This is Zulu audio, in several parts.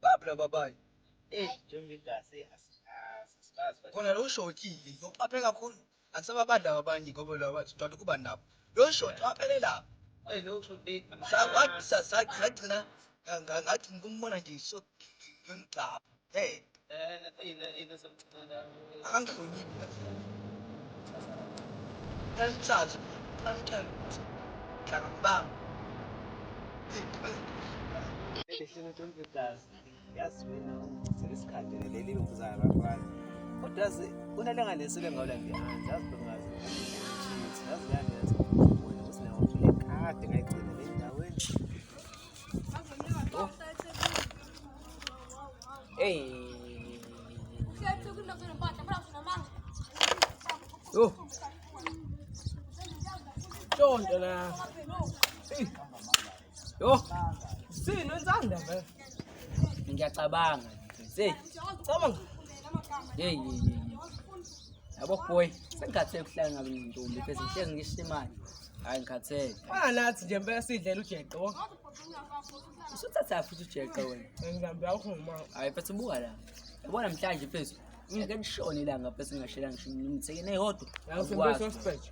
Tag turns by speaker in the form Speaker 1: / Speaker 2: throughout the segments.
Speaker 1: Babla babayi. Eh, njengegazi asikazi asikazi. Khona lo shokile, uqaphe kakhulu. Akusababadla abanye ngoba laba bathi uqala ukuba nabo. Lo shoti waphelelaphi? Eyi lo shoti sagcina ngathi ngikumubona nje ngimgcabha ngeke. Akangihloniphi kahle.
Speaker 2: yazi wena ucela isikhathi leli lokuzayo bafana kodwa yazi kunalanga lesile ngawula ngiyazi yazi bengazi ukuthi yazi yani yazi ubona ukuthi nawo uphile kade ngayigcina le ndaweni Hey.
Speaker 3: Oh. Don't, uh, Yo. Sino insanda vele.
Speaker 4: Ngiyacabanga. Hey. Cabanga.
Speaker 3: Hey,
Speaker 4: hey, hey. Yabo boy, sengikhathele kuhlala ngabe ngintombi pheze ngihlezi ngisho imali. Hayi ngikhathele. Fana nathi nje mpela
Speaker 3: sidlela ujeqo.
Speaker 4: Usuthatha futhi ujeqo wena. Ngihambe awukho uma.
Speaker 3: Hayi pheze buka la.
Speaker 4: Yabona mhlanje pheze. Ngeke lishone ilanga pheze ngashela ngisho ngimthekene eyodwa. Yasembe sospect.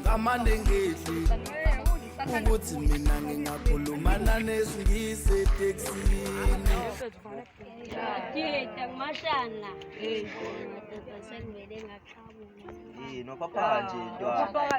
Speaker 5: ngamane ngidli ukuthi mina ngingakhulumana nesingisi etekisini yini
Speaker 6: waphaphaka nje
Speaker 2: ntwana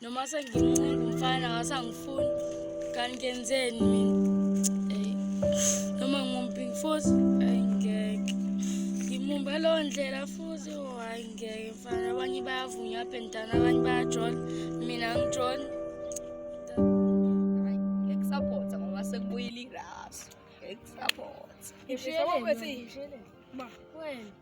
Speaker 7: noma sengimunga umfana wasangifuni kanti ngenzeni mina eyi noma ngumping futhi ayi ngeke ngimumbe leyo ndlela futhi oh, hayi ngeke mfana abanye bayavunya abhentana abanye bayajola mina ngijona
Speaker 8: ngikusapotha ngoba sekubuyile irasu ngikusapotha ngishiye ukuthi ma wena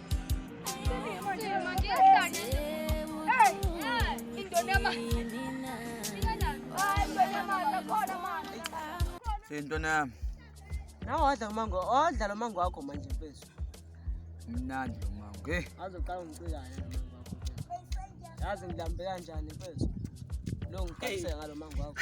Speaker 1: Sentwana yami.
Speaker 3: Nawe wadla umango, odla lo mango wakho manje mfethu. Mnandi
Speaker 1: lo mango. Hey. Azoqala ungicikane
Speaker 3: lo mango wakho. Yazi ngilambe kanjani mfethu? Lo ngikhathise ngalo mango wakho.